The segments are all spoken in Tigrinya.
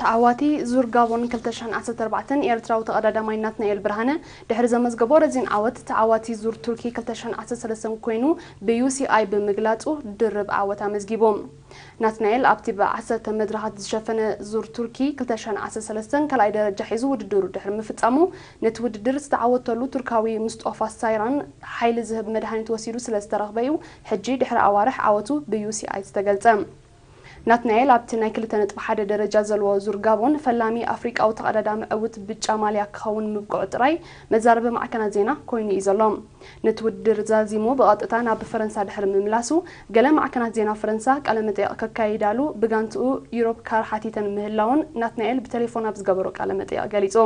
ተዓዋቲ ዙር ጋቦን ክልተ ሽሕን ዓሰርተ ኣርባዕተን ኤርትራዊ ተቐዳዳማይ ናትናኤል ብርሃነ ድሕሪ ዘመዝገቦ ረዚን ዓወት ተዓዋቲ ዙር ቱርኪ ክልተ ሽሕን ዓሰርተ ሰለስተን ኮይኑ ብዩሲኣይ ብምግላጹ ድርብ ዓወት ኣመዝጊቡ። ናትናኤል ኣብቲ ብ ዓሰርተ መድረኻት ዝሸፈነ ዙር ቱርኪ ክልተ ሽሕን ዓሰርተ ሰለስተን ካልኣይ ደረጃ ሒዙ ውድድሩ ድሕሪ ምፍጻሙ ነቲ ውድድር ዝተዓወተሉ ቱርካዊ ሙስጦፋ ሳይራን ሓይሊ ዝህብ መድሃኒት ወሲዱ ስለዝተረኽበ'ዩ ሕጂ ድሕሪ ኣዋርሕ ዓወቱ ብዩሲኣይ ዝተገልጸ። ናትናኤል ኣብቲ ናይ ክልተ ነጥቢ ሓደ ደረጃ ዘለዎ ዙር ጋቦን ፈላሚ ኣፍሪቃዊ ተቐዳዳሚ ዕውት ብጫ ማልያ ክኸውን ምብቅዑ ጥራይ መዛረቢ ማዕከናት ዜና ኮይኑ እዩ ዘሎ። ነቲ ውድድር ዛዚሙ ብቐጥታ ናብ ፈረንሳ ድሕሪ ምምላሱ ገለ ማዕከናት ዜና ፈረንሳ ቃለመጠየቕ ከካይዳሉ ብጋንትኡ ዩሮፕካር ሓቲተን ምህላወን ናትናኤል ብተሌፎን ኣብ ዝገበሮ ቃለመጠየቕ ገሊጹ።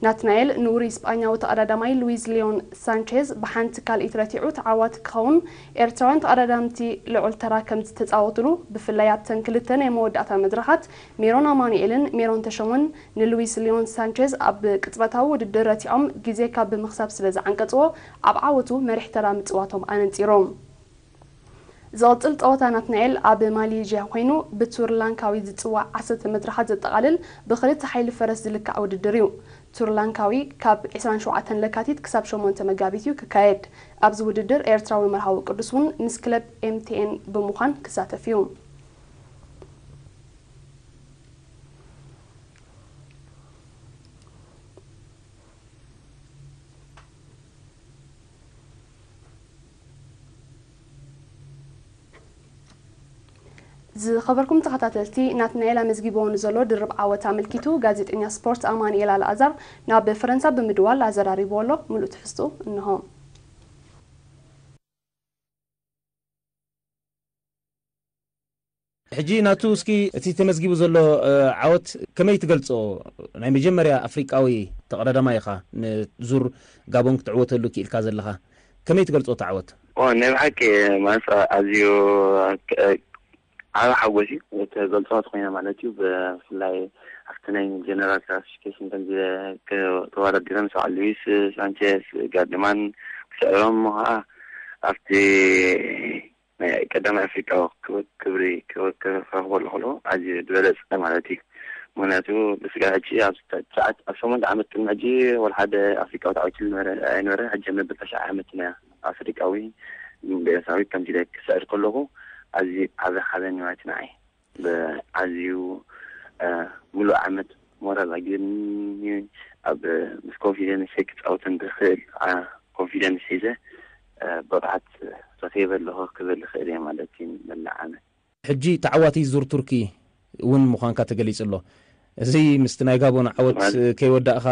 ናትናኤል ንውሩይ ስጳኛዊ ተቐዳዳማይ ሉዊዝ ሊዮን ሳንቼዝ ብሓንቲ ካልኢት ረቲዑ ተዓዋቲ ክኸውን፣ ኤርትራውያን ተቐዳዳምቲ ልዑል ተራ ከምዝተጻወቱሉ፣ ብፍላይ ኣብተን ክልተ ናይ መወዳእታ መድረኻት፣ ሜሮን ኣማኑኤልን ሜሮን ተሾመን ንሉዊስ ሊዮን ሳንቼዝ ኣብ ቅጽበታዊ ውድድር ረቲዖም ግዜ ካብ ምኽሳብ ስለዝዓንቀጽዎ፣ ኣብ ዓወቱ መሪሕ ተራ ምጽዋቶም ኣነጺሩ። ዝቕጽል ጸወታ ናትናኤል ኣብ ማሌዥያ ኮይኑ ብቱር ላንካዊ ዝጽዋዕ ዓሰርተ መድረኻት ዘጠቓልል ብኽልተ ሓይሊ ፈረስ ዝልካዕ ውድድር እዩ። ቱር ላንካዊ ካብ ዕስራን ሸውዓተን ለካቲት ክሳብ ሸሞንተ መጋቢት እዩ ክካየድ። ኣብዚ ውድድር ኤርትራዊ መርሃዊ ቅዱስ እውን ምስ ክለብ MTN ብምዃን ክሳተፍ እዩ። ዝኸበርኩም ተኸታተልቲ ናትናኤል ኣመዝጊብዎ ንዘሎ ድርብ ዓወት ኣመልኪቱ ጋዜጠኛ ስፖርት ኣማንኤል ኣልኣዛር ናብ ፈረንሳ ብምድዋል ኣዘራሪብዎ ኣሎ። ምሉእ ትሕዝትኡ እንሆ። ሕጂ ናቱ እስኪ እቲ ተመዝጊቡ ዘሎ ዓወት ከመይ ትገልጾ? ናይ መጀመርያ ኣፍሪቃዊ ተቐዳዳማይ ኢኻ ንዙር ጋቦን ክትዕወተሉ ክኢልካ ዘለኻ። ከመይ ትገልጾ እቲ ዓወት? ዋው ናይ ብሓቂ ማለት ኣዝዩ ዓቢ ሓጎስ እዩ። እትገልጾ እንተኾይና ማለት እዩ ብፍላይ ኣብቲ ናይ ጀነራል ክላሲፊኬሽን ከምዚ ተወዳዲረ ምስ በዓል ሉዊስ ሳንቸዝ ጋርድማን ክስዕሮም እሞ ከኣ ኣብቲ ናይ ቀዳማይ ኣፍሪቃዊ ክብሪ ክረኽበሉ ከሎ ኣዝዩ ዝበለጸ ማለት እዩ። ምኽንያቱ ብስጋብ ሕጂ ኣብ ትሽዓተ ኣብ ሸሞንተ ዓመት ቅድሚ ሕጂ ወላ ሓደ ኣፍሪቃዊ ተዓዊትሉ ነበረ ኣይነበረን። ሕጂ ኣብ መበል ታሽዓይ ዓመትና ኣፍሪቃዊ ብኤርትራዊ ከምዚ ኢለ ክስዕር ከለኹ ኣዝዩ ዓቢ ሓበን ማለት እዩ ንዓይ። ብኣዝዩ ምሉእ ዓመት ሞራል ኣጊዱኒ ኣብ ምስ ኮንፊደንሰይ ክጻወት እንድኽእል ኮንፊደንስ ሒዘ ብቕዓት ረኺበ ኣለኹ ክብል እኽእል እየ ማለት እዩ ንመላእ ዓመት። ሕጂ ተዓዋቲ ዙር ቱርኪ እውን ምዃንካ ተገሊጹ ኣሎ። እዚ ምስቲ ናይ ጋቦን ዓወት ከይወዳእካ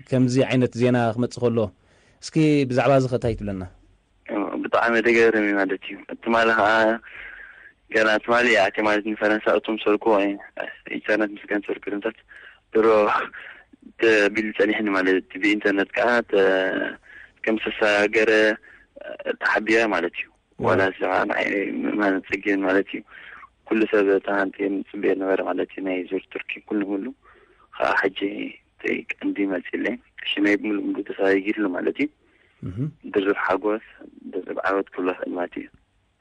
ከምዚ ዓይነት ዜና ክመጽእ ከሎ እስኪ ብዛዕባ እዚ ከ እንታይ ትብለና? ብጣዕሚ ደገርም እዩ ማለት እዩ ትማሊ ከኣ ገና ትማሊ እያ ኣትያ ማለት ንፈረንሳ እቶም ዝሰርቅዎ ኢንተርነት ምስ ገንጸሉ ቅድምታት ድሮ ተቢሉ ጸኒሕኒ ማለት እዩ ብኢንተርነት ከኣ ከም ዝተሰጋገረ ተሓቢረ ማለት እዩ ዋላ እዚ ከኣ ንዓይ ምእማን ጸጊም ማለት እዩ ኩሉ ሰብ እታ ሃንቲ ዝጽበዮ ነበረ ማለት እዩ ናይ ዙር ቱርኪ ኩሉ ሙሉ ከኣ ሕጂ እቲ ቀንዲ መጺለይ ሽመይ ብምሉእ ሙሉእ ተሰጋጊርሉ ማለት እዩ ድርብ ሓጎስ ድርብ ዓወት ክብሎ ይኽእል ማለት እዩ።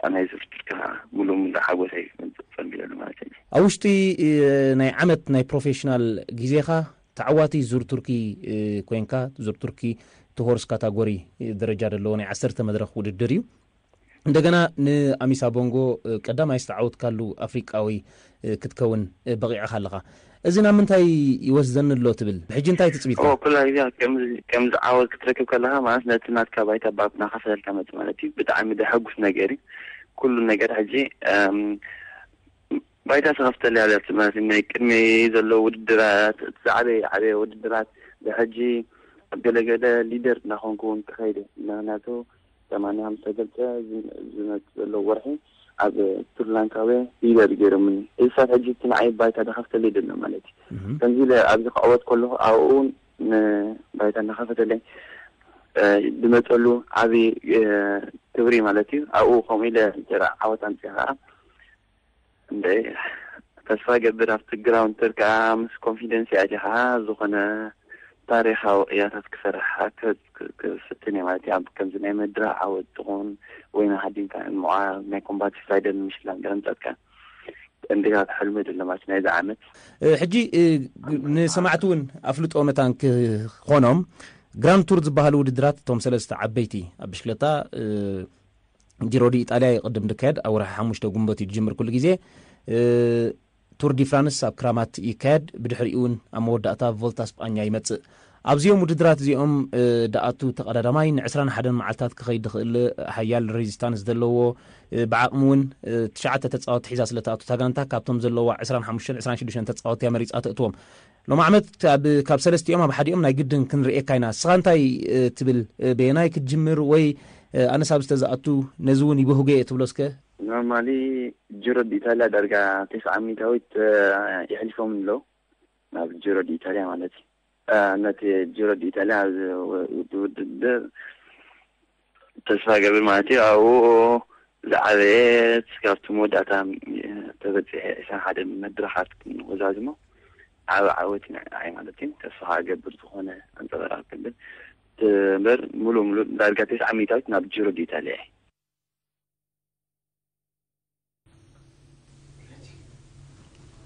ኣብ ናይ እዚ ፍጥርቲ ከኣ ምሉእ ምሉእ ሓጎሰይ ክገልጽ ጸጊበሉ ማለት እዩ። ኣብ ውሽጢ ናይ ዓመት ናይ ፕሮፌሽናል ግዜኻ ተዓዋቲ ዙር ቱርኪ ኮንካ፣ ዙር ቱርኪ እቲ ሆርስ ካታጎሪ ደረጃ ደለዎ ናይ ዓሰርተ መድረኽ ውድድር እዩ። እንደገና ንኣሚሳ ቦንጎ ቀዳማይ ዝተዓወትካሉ ኣፍሪቃዊ ክትከውን በቒዕኻ ኣለኻ። እዚ ናብ ምንታይ ይወስደኒ ኣሎ ትብል? ሕጂ እንታይ እዩ ትጽቢትካ? ኩላ ግዜ ከምዚ ዓወት ክትረክብ ከለኻ ማለት ነቲ ናትካ ባይታ ባብ እናኸፈለልካ መጺኡ ማለት እዩ። ብጣዕሚ ደሐጉስ ነገር እዩ። ኩሉ ነገር ሕጂ ባይታ ተኸፍተሉ እያ ማለት እዩ። ናይ ቅድሚ ዘሎ ውድድራት እቲ ዝዓበየ ዓበየ ውድድራት ብሕጂ ኣብ ገለ ገለ ሊደር እናኾንኩ እውን ክኸይድ እየ። ምክንያቱ ሰማንያ ምስ ተገልጸ ዝመጽእ ዘሎ ወርሒ ኣብ ስሪላንካውያ ሊደር ገይሮምኒ። እዚ ክሳብ ሕጂ እቲ ንዓይ ባይታ ዝኸፍተለይ ዘሎ ማለት እዩ። ከምዚ ኢለ ኣብዚ ክዕወት ከለኹ ኣብኡ እውን ባይታ እናኸፈተለይ ዝመጸሉ ዓቢ ክብሪ ማለት እዩ። ኣብኡ ከምኡ ኢለ ዓወት ኣምጺኣ ከኣ እንድዒ ተስፋ ገብር ኣብቲ ግራውንድ ተርክኣ ምስ ኮንፊደንሲ ኣቲኻ ዝኾነ ታሪኻዊ ቅያታት ክሰርሕ ክፍትን ኢዩ ማለት ኢዩ። ከምዚ ናይ ምድራ ዓወት ትኹን ወይና ሃዲምካ ምውዓል ናይ ኮምባቲቭ ራይደር ንምሽላም ገለ ምጻትካ እንድዒ ሕልሚ ድልማት ናይዚ ዓመት። ሕጂ ንሰማዕቲ ውን ኣፍልጦ መታን ክኾኖም ግራንድ ቱር ዝብሃሉ ውድድራት እቶም ሰለስተ ዓበይቲ ኣብ ብሽክለታ፣ ጂሮ ዲ ኢጣልያ እዩ ቅድም ድካየድ ኣብ ወርሒ ሓሙሽተ ጉንበት እዩ ድጅምር ኩሉ ግዜ ቱር ዲ ፍራንስ ኣብ ክራማት ይካየድ ብድሕሪኡ ውን ኣብ መወዳእታ ቮልታ ስጳኛ ይመጽእ ኣብዚኦም ውድድራት እዚኦም ድኣቱ ተቀዳዳማይ ን ዕስራን ሓደን መዓልታት ክከይድ ድክእል ሓያል ሬዚስታንስ ደለዎ ብዓቅሚ ውን ትሽዓተ ተጻወቲ ሒዛ ስለ ትኣቱ እታ ጋንታ ካብቶም ዘለዋ ዕስራን ሓሙሽተን ዕስራን ሽዱሽተን ተጻወቲ እያ መሪጻ ተእትዎም ሎሚ ዓመት ካብ ካብ ሰለስቲኦም ኣብ ሓዲኦም ናይ ግድን ክንርእየካ ኢና እስኻ እንታይ ትብል በየናይ ክትጅምር ወይ ኣነስ ኣብዚ ተዝኣቱ ነዚ ውን ይበህጎ እየ ትብሎ እስከ? ኖርማሊ ጅሮ ዲኢታልያ ዳርጋ ተስዓ ሚኢታዊት የሕሊፎምኒ ኣለው ናብ ጅሮ ዲኢታልያ ማለት እዩ ነቲ ጅሮ ዲኢታልያ ውድድር ተስፋገብር ማለት እዩ ኣብኡ ዝዓበየት ካብቲ መወዳእታ ተበጺሐ ዕስራን ሓደን መድረኻት ክንወዛዝሞ ዓቢ ዓወት ይንዕናዕ እዩ ማለት እዩ ተስፋ ከኣ እገብር ዝኾነ ኣንጸበራቕ ክብል እምበር ምሉእ ምሉእ ዳርጋ ተስዓ ሚእታዊት ናብ ጅሮ ድዩ ተሊዐ